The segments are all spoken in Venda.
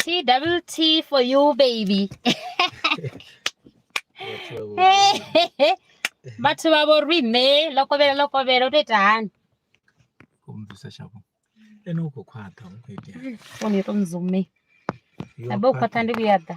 T double T for you baby vhathu vha vho rine ḽo kovhela ḽo kovhela u to ita hani khou mubvisa shavho ene u khou khwaṱha u khou itea fone yo to mzume abe u khwaṱha ndi vhuya ḓa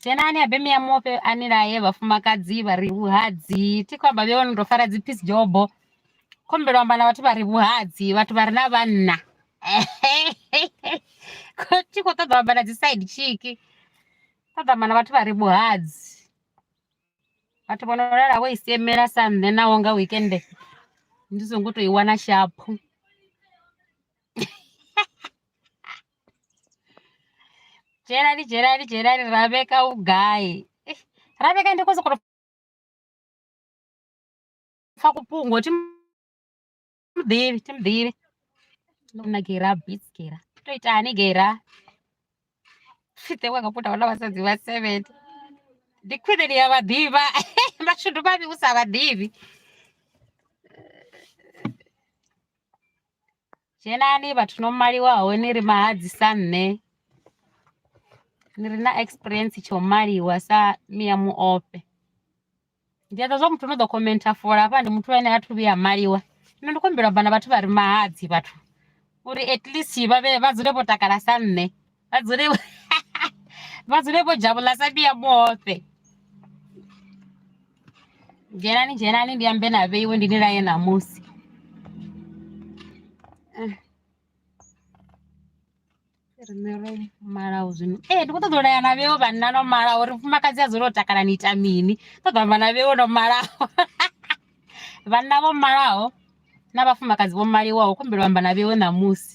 dzhenani habe mia mofhe a ni laye vhafumakadzi vha ri vhuhadzi thi khou amba vhe vha no tou fara dzi peace jobo khombelo amba na vhathu vha ri vhuhadzi vhathu vha re na vhanna thi khou ṱoḓa amba na dzi side chiki ṱoḓa amba na vhathu vha ri vhuhadzi vhathu vho no lala vho i siemela sa nṋe naho nga wekende ndi songo tou i wana shaphu Dzhielani dzhielani dzhielani ra vheka u gai eish ra vheka ndi khou sokou tou pfha ku fhungo thi muḓivhi thi muḓivhi ndo mu na geira beats geira to itani geira fhiṱe wa nga puta wana vhasadzi vha seven ndi khwine ni ya vha ḓivha mashudu mavhi u sa vha ḓivhi dzhenani vhathu no maliwaho ni ri mahadzi sa nṋe ni re na experience tsha u maliwa sa Miya Muofhe ndi a ḓivha zwa muthu no ḓo khomenta fola hafha ndi muthu ane a thu vhuya maliwa zwino ndi khou humbela u amba na vhathu vha re mahadzi vhathu uri at least vha vhe vha dzule vho takala sa nṋe. vadzule vho dzhavula sa vhiya vhoṱhe dzhenani dzhenani ndi ambe na vheiwe ndi ni laye ṋamusi eh. riṋe ro malaho zwino ee ndi khou ṱoḓa u laya na vheo vhanna no malaho uri mufumakadzi a dzule o takala ni ita mini ṱoḓa amba na vheo no malaho vhanna vho malaho na vhafumakadzi vho maliwaho kumbelo amba na vheo ṋamusi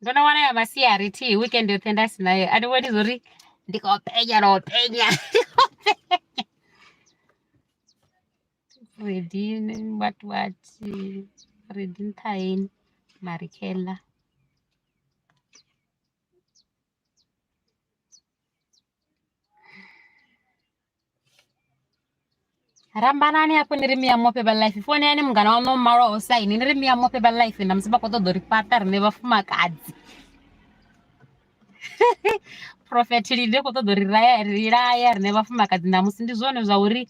Ndo no wana ya masiari thi weekend yoṱhe nda si nayo a thi vhoni zwo ri ndi khou penya na u penya redi what what redi nṱhaeni marikheḽa rambanani apo ni ri miya mope ba life fone yani mungana wanu malo osaini ni ri miya mope ba life na musi vha khou ṱoḓa uri fhaṱa rine vhafumakadzi prophet linde khou ṱoḓa uri raya ri laya rine vhafumakadzi na musi ndi zwone zwa uri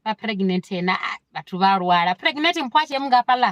vha pregnant na vhathu vha lwala pregnant mpho a tshee mungafhaḽa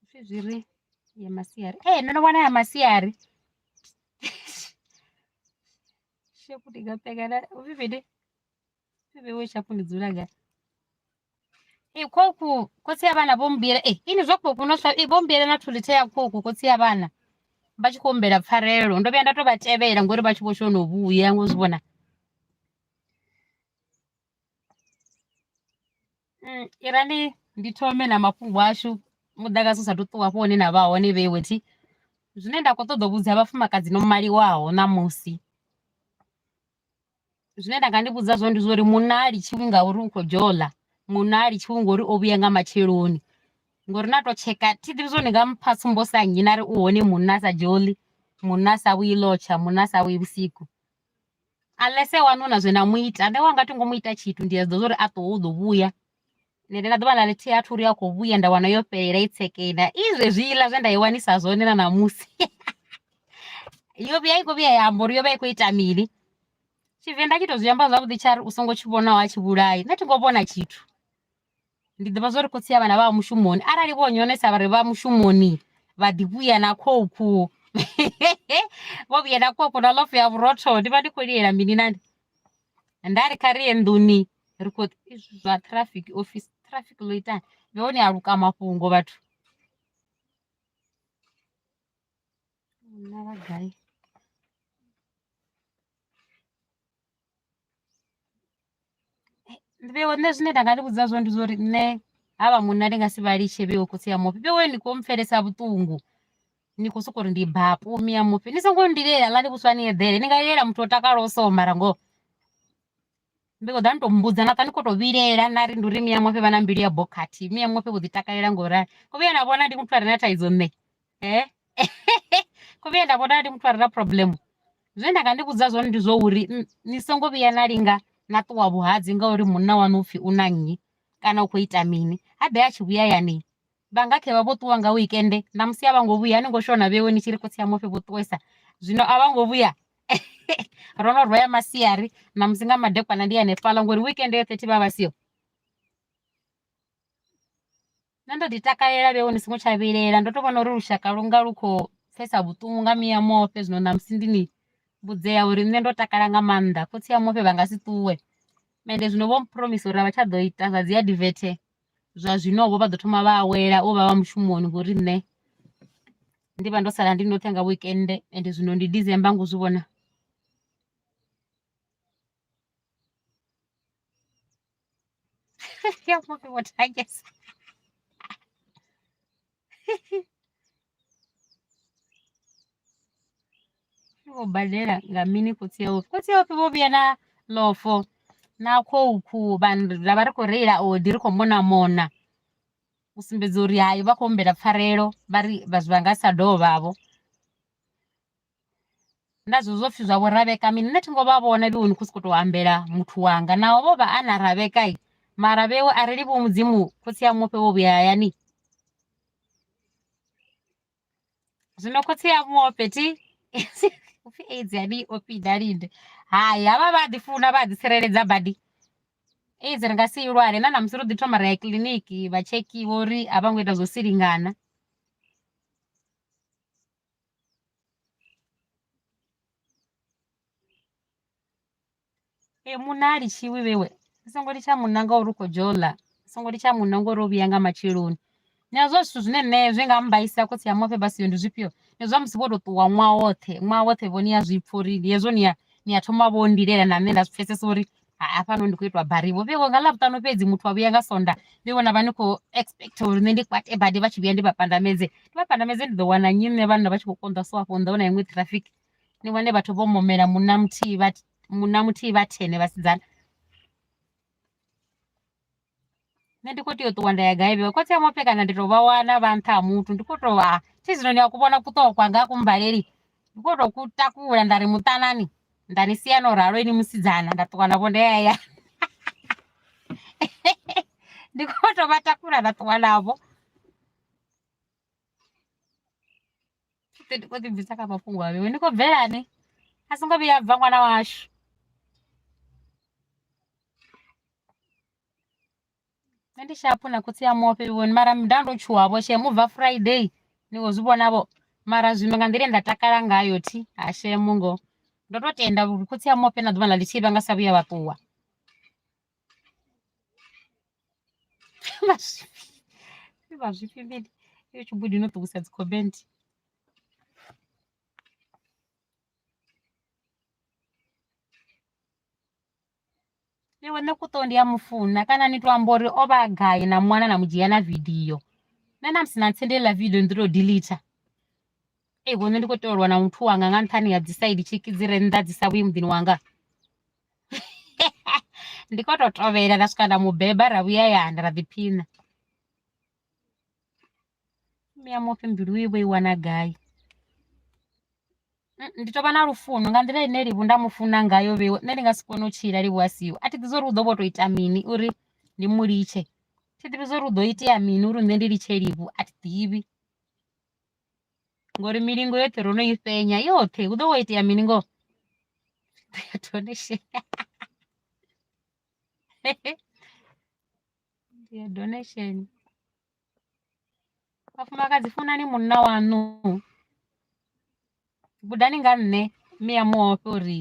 Hupfi zwi ri ya masiari ee no no wana ya masiari shapu ndi nga pekana hupfi mini hupfi vhewe shapu ndi dzula nga ee khoku khotsi ya vhana vho mmbuyela ee ini zwa khoku no sa ee vho mmbuyela na thulithe ya khoku khotsi ya vhana vha tshi khou humbela pfarelo ndo vhuya nda to vha tevhela ngori vha tshi vho shono vhuya ngo zwi vhona Mm, i ra ndi ndi thome na mafhungo ashu muḓagasi u sathu ṱuwa hafho hune na vha hone vhe wethi zwine nda kho ṱoḓa u vhudza vhafumakadzi no maliwaho ṋamusi zwine nda nga ndi vhudza zwone ndi zwori munna ha litshiwi ngauri u kho dzhola munna ha litshiwi ngori o vhuya nga matsheloni ngori na to tsheka thi ḓivhi zwone nga mpha tsumbo sa nnyi na ri u hone munna a sa dzholi munna a sa vhuyi lotsha munna a sa vhuyi vhusiku unless wanu na zwe na mu ita nṋe wanga thi ngo mu ita tshithu ndi a zwi ḓivha zwa uri a ṱuwe u ḓo vhuya nṋe ndi na ḓuvha na ḽithihi a thi uri a khou vhuya nda wana yo fhelela i tsekena i zwezwiḽa zwe nda i wanisa zwone na ṋamusi yo vhuya i khou vhuya ya amba uri yo vha i khou ita mini tshivenḓa tshi to zwi amba zwavhuḓi tsha ri u songo tshi vhonaho a tshi vhulai nṋe thi ngo vhona tshithu. ndi ḓivha zwa uri khotsi ya vhana vha mushumoni arali vho nyonesa vha ri vha mushumoni vha ḓi vhuya na khokhu vho vhuya na khokhu na lofu ya vhurotho ndi vha ndi khou lilela mini nani nda ri kha ri ye nḓuni ri khou zwa traffic office traffic ḽo itani ndi hone a luka mafhungo vhathu na vhagai vhewe nṋe zwine nda nga ni vhudza zwone ndi zwa uri nṋe havha munna ndi nga si vha litshe vhewe khotsi ya mufi vhewe ni kho mpfhelesa vhuṱungu ni khou sokou ri ndi baa pumi ya mufi ni songo ndilela ḽa ni vhuswa ni eḓele ni nga lilela muthu o takalaho so mara ngoho ndi khou ḓa ni to mbudza na ṱa ni khou to vhilela na ri ndi uri miya mufi vha na mbilu ya bokhathi miya mufi vho ḓi takalela ngori u vhuya na vhona ndi muthu a re na thaidzo nṋe eh khovhe ye nda vhona ndi muthu a re na problem zwe nda nga ndi vhudza zwone ndi zwa uri ni songo vhuya na linga na ṱuwa vhuhadzi ngauri munna wanu upfhi u na nnyi kana u khou ita mini ha ḓe a tshi vhuya yani vha nga khe vha vho ṱuwa nga wekende na musi a vha ngo vhuya ni ngo shona vhewe ni tshi ri khotsi ya mufhe vho ṱuwesa zwino a vha ngo vhuya ro no rwaya masiari na musi nga madekwana ndi hanefhala ngori wekende yoṱhe thi vha vha siho Nṋe ndo ḓi takalela vheiwe ni songo tsha vhilela ndo to vhona uri lushaka lu nga lu kho pfesa vhuṱungu nga mia mofhe zwino ṋamusi ndi ni vhudzea uri nṋe ndo takala nga maanḓa khotsi a mufhe vha nga si ṱuwe ende zwino vho phuromisa uri a vha tsha ḓo ita zwa dzi advert zwa zwino vho vha ḓo thoma vha awela u vha vha mushumoni ngori nṋe ndi vha ndo sala ndi ndoṱhe nga weekend ende zwino ndi December ngo zwi vhona. Y'all wonder what I guess. Iwo badela nga mini khotsi yawe khotsi yawe vho vhuya na lofo na khou khuba ra vha ri khou reila odi ri khou mona mona u sumbedza uri hai vha khou humbela pfarelo vha ri vha zwi vha nga sa dovha vho nda zwi zwopfi zwa vho ravheka mini nṋe thi ngo vha vhona vhoni khou sokou tou ambela muthu wanga naho vho vha a na ravheka i mara vhewe a ri livhi mudzimu khotsi a mufhe vho vhuya hayani zwino khotsi a mufhe thi upfi aids yani ofi dalinde hai havha vha ḓi funa vha ḓi tsireledza badi aids ri nga si ilwale na namusi ro ḓi thoma ra ya kiḽiniki vha tshekhiwa uri a vha ngo ita zwo silingana e munna a litshiwi vhewe ni songo litsha munna ngauri u khou dzhia ola ni songo litsha munna ngori o vhuya nga matsheloni ni a zwa zwithu zwine nṋe zwi nga mmbaisa khotsi a mafhe vhasiyo ndi zwifhio ni zwa musi vho to ṱuwa ṅwaha woṱhe ṅwaha woṱhe vho ni a zwipfa uri ndi hezwo ni a ni a thoma vho lilela na nṋe nda zwi pfhesesa uri haa fhano ndi khou itwa bari vho vheiwa nga ḽavhuṱanu fhedzi muthu wa vhuya nga sonda ndi vhona vha ni khou expect uri nṋe ndi kwate badi vha tshi vhuya ndi vha pandamedze ndi vha pandamedze ndi ḓo wana nnyi nṋe vhanna vha tshi khou konḓa so afho nḓa wana iṅwe traffic ni vhone vhathu vho momela munna muthihi vha munna muthihi vha thene vhasidzana nṋe ndi kho tea u ṱuwa nda ya gai vhe khotsi a mufe kana ndi to vha wana vha nṱha ha muthu ndi kho to vha thi zwino ni a ku vhona kuṱokwa nga ku mbaleli ndi kho to ku takula nda ri muṱanani nda ni sia no ralo ini musidzana nda ṱuwa navho nda ya ya ndi kho to vha takula nda ṱuwa navho ndi kho ḓi bvisa kha mafhungo a vhewe ni khou bvelani a songo vhuya bva ṅwana washu nṋe ndi shaphu na khotsi a mufhe vhoni mara nda ndo tshuwa vho shem ubva friday ni kho zwi vhona vho mara zwino nga nḓila ye nda takala ngayo thi ha shemu ngo ndo to tenda uri khotsi a mufhe na ḓuvha ḽa ḽithihi vha nga sa vhuya vha ṱuwa vha zwifhi mini yo tshibudi no ṱuwisa dzi comment iwe nṋe kuṱo ndi a mufuna kana ni to amba uri o vha a gai na mwana na mu dzhia na vidio nṋe na musi na ntsendela vidio ndi to delete ei vhone ndi khou tolwa na muthu wanga nga nṱhani ha dzi side tshiki dzi re nnḓa dzi sa vhuyi muḓini wanga ndi khou to tovhela nda swika nda mu beba ra vhuya hayani ra ḓiphina Mme ya mufi mbilu i vho i wana gai, ndi tou vha na lufuno nga nḓila ine Livhuwa nda mu funa ngayo vheiwe nṋe ndi nga si kone u tshila Livhuwa a siho, a thi ḓivhi zwori hu ḓo vho to ita mini uri ndi mu litshe, thi ḓivhi zwori hu ḓo itea mini uri nṋe ndi litshe Livhu a thi ḓivhi ngori milingo yoṱhe ro no i fhenya yoṱhe hu ḓo vho itea mini ngoho donation donation. Vhafumakadzi funani munna waṋu gudani nga nṋe mme a mu ofhe uri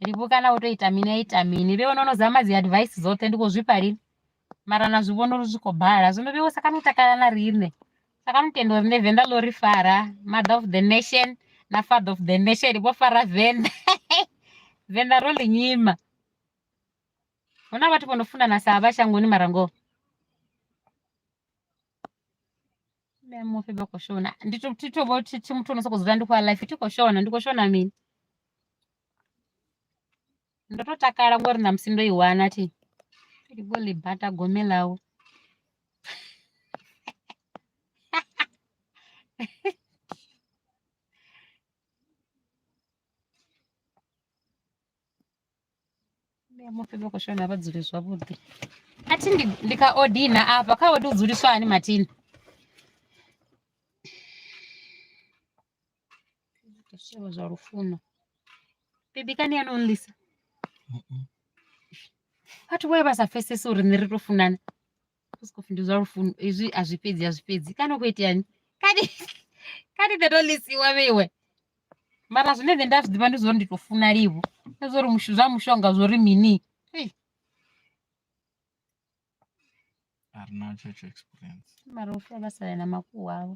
livhi kana u to ita mini a ita mini vhe vhono no dzama dzi advice dzoṱhe ndi kho zwifha lini mara na zwi vhona uri zwi khou bala zwino vhe wo sa kana u takala na riṋe sa kana u tenda uri nṋe venḓa ḽo ri fara mother of the nation na father of the nation vho fara venḓa venḓa ro ḽi nyima hu na vhathu vho no funana sa vha shangoni mara ngoho mme mufi vha khou shona ndi to thi to vho thi thi muthu ono sokou dzula ndi khou ya life thi khou shona ndi khou shona mini ndo to takala ngori na musi ndo i wana thi ndi vho ḽi bata gome ḽawe Ndi ya mufi vha khou shona vha dzule zwavhuḓi. A thi ndi ndi kha odina afha kha odi u dzuliswa hani Martina? Zwithu zwa lufuno. Bibi kani ya nonlisa. Vhathu vhoya vha sa pfesesi uri ni ri to funana. Scoff ndi zwa lufuno izwi a zwi fhedzi a zwi fhedzi kana u khou iteani kani kani nṋe ndo ḽisiwa vheiwe mara zwine nṋe nda zwi ḓivha ndi zwa uri ndi tou funa livho ndi zwa uri mushu- zwa mushonga zwo ri mini Ei, a re na church experience mara u fela vha sale na makuwa avho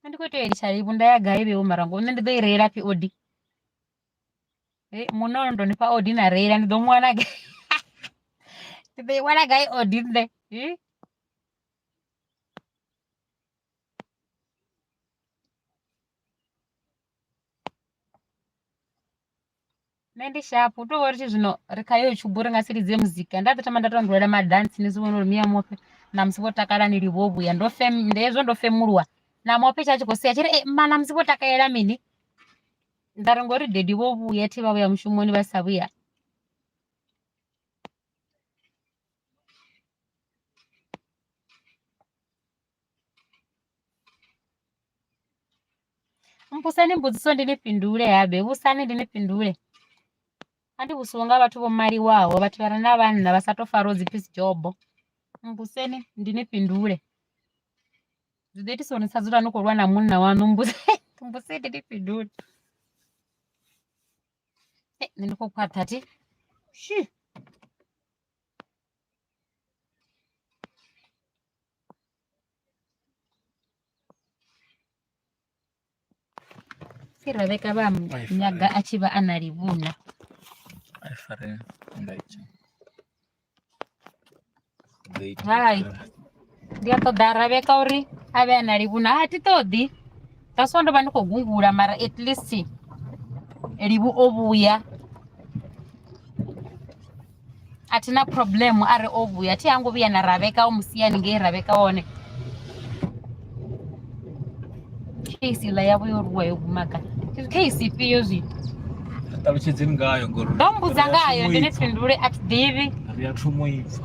nṋe ndi kho tea u litsha vho nda ya gai vheiwe mara ngo nṋe ndi ḓo i reila pfhi odi munna ono to ni fha odi na reila ndi ḓo mu wana gai ndi ḓo i wana gai odi nṋe nṋe ndi sharp hu tovhori tshi zwino ri kha yo tshubu ri nga si lidze muzika nda ḓi thoma nda to ndulela madansi ni zwi vhona uri miya mofhe na musi vho takala ni livho vhuya ndo fem ndi hezwo ndo femuluwa na mofhe tsha tshi khou sia tshi ri ma na musi vho takalela mini nda ri ngori dedi vho vhuya thi vha vhuya mushumoni vha sa vhuya Mmbuseni mbudziso ndi ni fhindule habe, vhudzani ndi ni fhindule. A thi vhusiwe nga vhathu vho maliwaho, vhathu vha re na vhanna vha sa tou fariwa u dzi pfi dzi dzhobo. Mmbuseni ndi ni fhindule, zwi ḓo itisa uri ni sa dzule ni khou lwa na munna waṋu. Mmbuseni ndi ni fhindule, nṋe ndi khou khwaṱha thi shii. pfi rebeka vha mu Ai, nyaga a tshi vha a na livhuna I fare nga itsho. Hai. Ndi a ṱoḓa aravheka uri a vhe a na livhuna a thi ṱoḓi that's why ndo vha ndi khou gungula mara at least livhu o vhuya a thi na problem a re o vhuya thi hango vhuya na ravheka o musiyani ngei ravheka hone case iḽa yavho yo ruwa yo guma ka case ifhio zwithu ṱalutshedzeni ngayo ngori ndo mbudza ngayo ndine fhindule a thi ḓivhi ri a thumo ipfa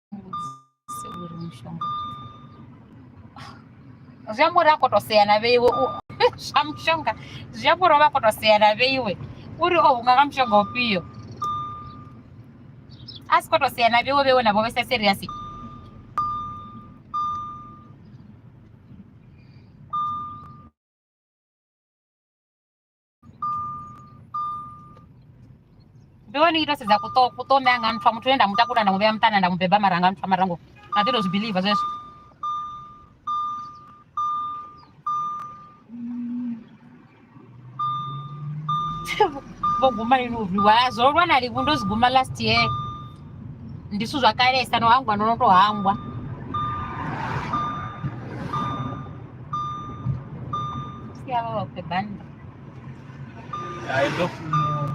zwi amba uri a koto sea na vheiwe zwa mushonga zwi amba uri o vha a koto sea na vheiwe uri o hunga nga mushonga ufhio a si koto sea na vheiwe vheiwe navho vhe sa seriasi ndi wani ita sedza kuto kutome anga nfa muthu ane ndamutakula ndamuvhea muṱana ndamubeba mara anga nfa marango na ḓi to zwi believe zwezwo vho guma ini uvhiwa zwo lwa na livhu ndo zwi guma last year ndi zwithu zwa kalesa no hangwa no no to hangwa siavha vha khwe bannda I don't know.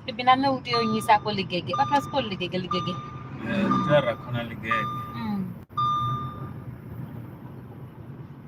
bebi na nṋe u tea u nyisa ko ligege vhathu vha si kho ligege ligege Eh, Tara khona ligege.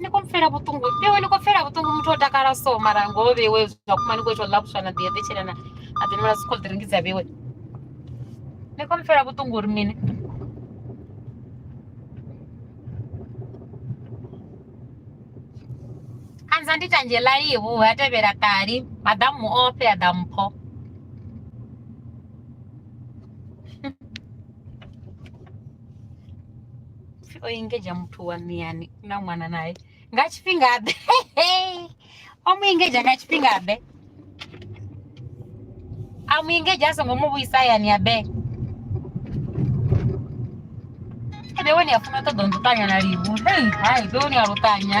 ni khou mpfela vhuṱungu iwe ni khou pfela vhuṱungu muthu o takala so mara ngoho vheiwe zwa kuma ni khou ita u ḽapuswa na ḓi eḓetshela na a ḓi nwela sikho ḓiringi dza vheiwe ni khou mpfela vhuṱungu uri mini anza ndi tanzhela ihu ha tevhela ṱali maḓamu ofhe a ḓa mpho o engedzha muthu wa miyani na ṅwana naye nga tshifhinga ḓe o mu engedzha nga tshifhinga ḓe a mu engedzha a songo mu vhuisa hayani ya be ebe wone ya funa u ṱoḓa u nṱuṱanya na livu hei hai be wone ya luṱanya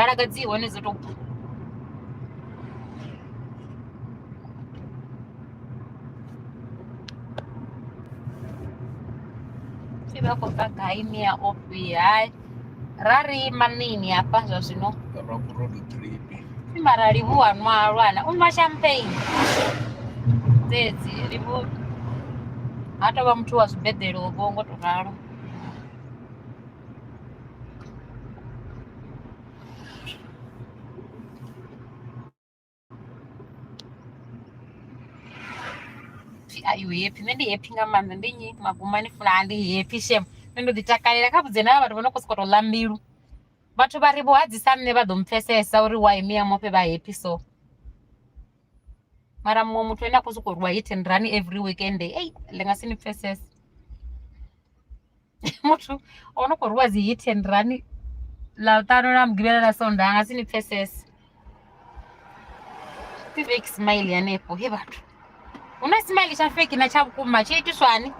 mbalaga dzi hone dzo to bva pfi vha khou bva gai mia ofhi hai ra ri manini hafha zwa zwino Rock Road Trip. pfi mara livhuwa nwa lwana u nwa champagne dzedzi livhu ha tovha muthu wa zwibeḓelo vho ngo to ralo ayihappy nende happy nga maanḓa ndi nyi magumani funa andi happy shem nṋe ndo ḓi takalela kha vhudze na vhathu vha no khou sokoto ḽa mbilu vhathu vha ri vho hadzisa nṋe vha ḓo mpfesesa uri wa miya mofhe vha happy so mara muṅwe muthu ane a khou sokou rwa hit and run every weekend ei ḽi nga si ni pfesese muthu o no khou rwiwa dzi hit and run ḽa ṱano ḽa mugivhela ḽa sonda a nga si ni pfesese ti fake smile hanefho he vhathu hu na smile tsha fake na tsha vhukuma tshi itiswani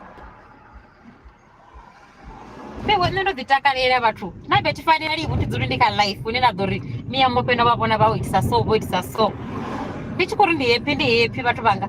fhewe nṋe ndo ḓi takalela vhathu na bethi fanela livhu thi dzuli ndi kha life hune na ḓo ri miya mope no vha vhona vha o itisa so vho itisa so ndi tshi khou ri ndi happy ndi happy vhathu vhanga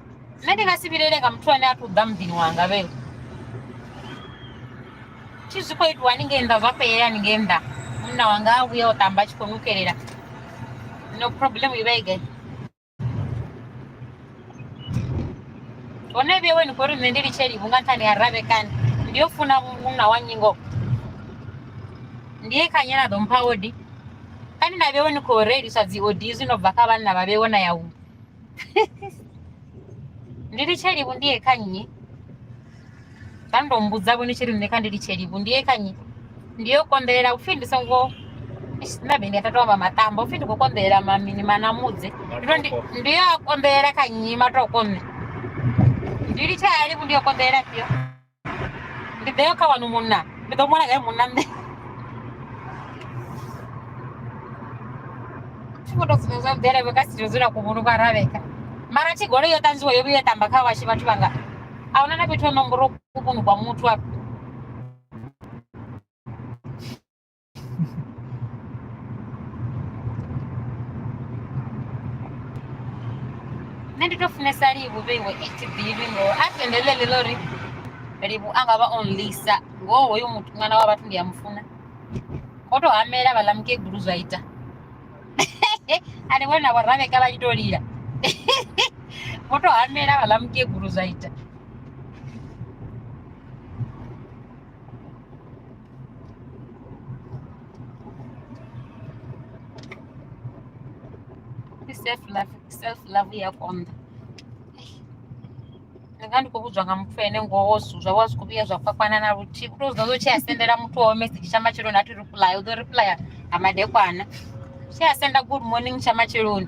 nṋe ndi nga si vhilele nga muthu ane a tou ḓa muḓini wanga vhe thi zwi khou itiwa ni ngei nnḓa zwa fhelela ni ngei nnḓa munna wanga a vhuya o ṱamba a tshi khou nukelela no problem i vha i gai hone vhewe ni khou ri nṋe ndi litsheli vhunga nṱhani ha ravhekani ndi yo funa munna wa nyingo ndi ye khanye na ḓo mpha odi kani na vhewe ni khou reiliswa dzi odi zwi no bva kha vhanna vha vhewe na ya huṅwe ndi litshe livhu ndi ye kha nnyi vha ndo mbudza vho ni tshi ri nṋe kha ndi litshe livhu ndi ye kha nnyi ndi yo konḓelela upfhi ndi songo nda vhe ndi a tata amba maṱamba upfhi ndi khou konḓelela mamini manamudze ndi to ndi- ndi yo a konḓelela kha nnyi matoko nṋe ndi litshe ya livhu ndi yo konḓelela fhio ndi ḓe kha wanu munna ndi ḓo ṅwala kae munna nṋe tshigodo dzine dza mvelevhe ka sitiro dzula kuvhulu kwa ravheka mara tshigolo yo ṱanzwiwa yo vhuya tamba kha washe vhathu vhanga a huna na fhethu ho nomboro kuvhunu kwa muthu afho nṋe ndi to funesa livhu vheiwe it ḓivhi ngo a tendelele ḽo ri livhu a nga vha on lisa ngoho hoyo muthu ṅwana wa vhathu ndi a mu funa ngo to hamela vhaḽa mukegulu zwa ita ani vhona vhoravheka vha tshi to lila ngo to hamela vhaḽa mukegulu zwa ita self love self love yakonda ndanga ndikokudzwa nga muthu ene ngowo zuzva wa zwi khou vhuya zwa kwakwana na luthihi u to zwi ḓo zwo tshi a sendela muthu wawe message tsha matsheloni a thi reply u ḓo replya ha madekwana tshi a senda good morning tsha matsheloni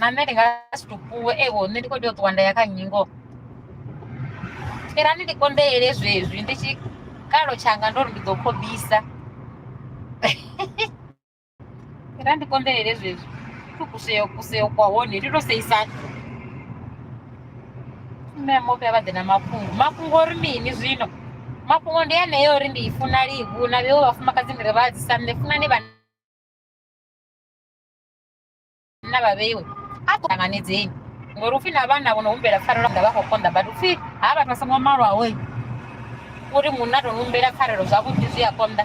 mamele nga si tupuwe ewo nṋe ndi kho tea u ṱuwa nda ya kha nnyi ngoho fhirani ndi konḓeele zwezwi ndi tshikalo tshanga ndo ri ndi ḓo khobisa fhira ndi konḓeele zwezwi to kuseo kuseo kwa hone ndi to seisana mme mofhe vha ḓe na mafhungo mafhungo ori mini zwino mafhungo ndi aneyo uri ndi i funa livhu na vheo vhafumakadzi ndi ri vha adzisa nṋe funani vhana na vhavheiwe a ṱanganedzeni ngori upfhi na vhana vho no humbela pfarelo nga vha khou konḓa but upfhi ha vhathu vha songo malwaho uri munna to humbela pfarelo zwavhuḓi zwi a konḓa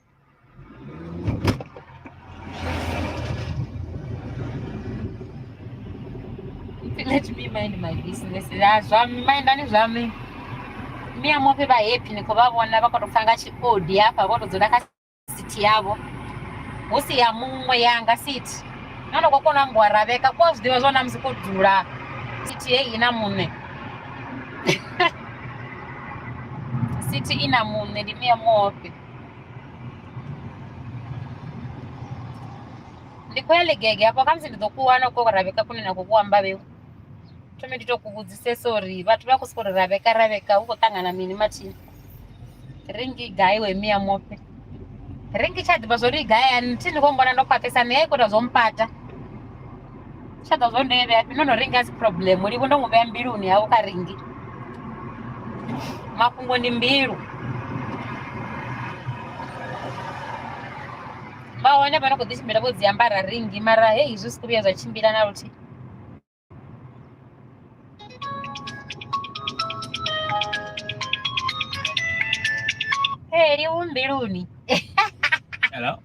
let me mind my business Ah, zwa mindani zwa mi mi amope vha happy ni khou vha vhona vha khou tou pfa nga tshikodi hafha vho tou dzula kha sithi yavho hu si ya muṅwe yanga sithi no no khou kona u ambiwa ra vheka ku a zwi ḓivha zwa na musi khou dzula sithi ye i na muṋe sithi i na muṋe ndi mi amope ndi khou ya ligege hafho kha musi ndi ḓo ku wana ko ravheka kune na khou ku amba vhewu thome ndi to ku vhudzisesa uri vhathu vha khou sokou ri ravheka ravheka hu khou ṱangana mini mathini ringi gai we mia mofhe ringi tsha ḓivha zwo ri gai ani thi ni khou mbona ndo khwaṱhesa ni ya ikota zwo mpata tsha ḓo zwo ndo i vhea ndo no ringa si problem livho ndo mu vhea mbiluni yau kha ringi mafhungo ndi mbilu vha hone vha no khou ḓi tshimbila vho dzi ambara ringi mara hei zwi si khou vhuya zwa tshimbila na luthihi Hey, you won't be Hello?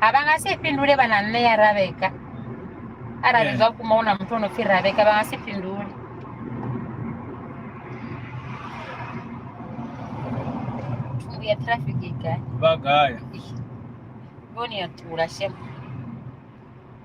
a vha nga si fhindule vha na nṋe ya ravheka arali Yeah. zwa kuma hu na muthu o no pfhi ravheka vha nga si fhindule thungu ya traffic i gai vha gaya vhoni ya tula shema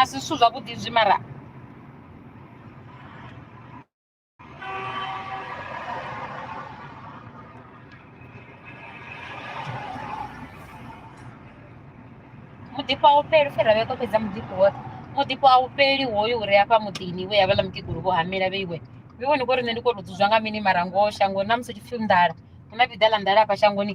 a si zwithu zwavhuḓi zwi mara muḓifho a u fheli u fhira vhe ko fhedza muḓifho woṱhe muḓifho a u fheli hoyo uri afha muḓini we havhaḽa mukegulu vho hamela vheiwe vhe vhone kori nṋe ndi kho to dzudzwa nga mini mara ngoho shangoni na musi tshipfi nḓala hu na vhiḓa ḽa nḓala afha shangoni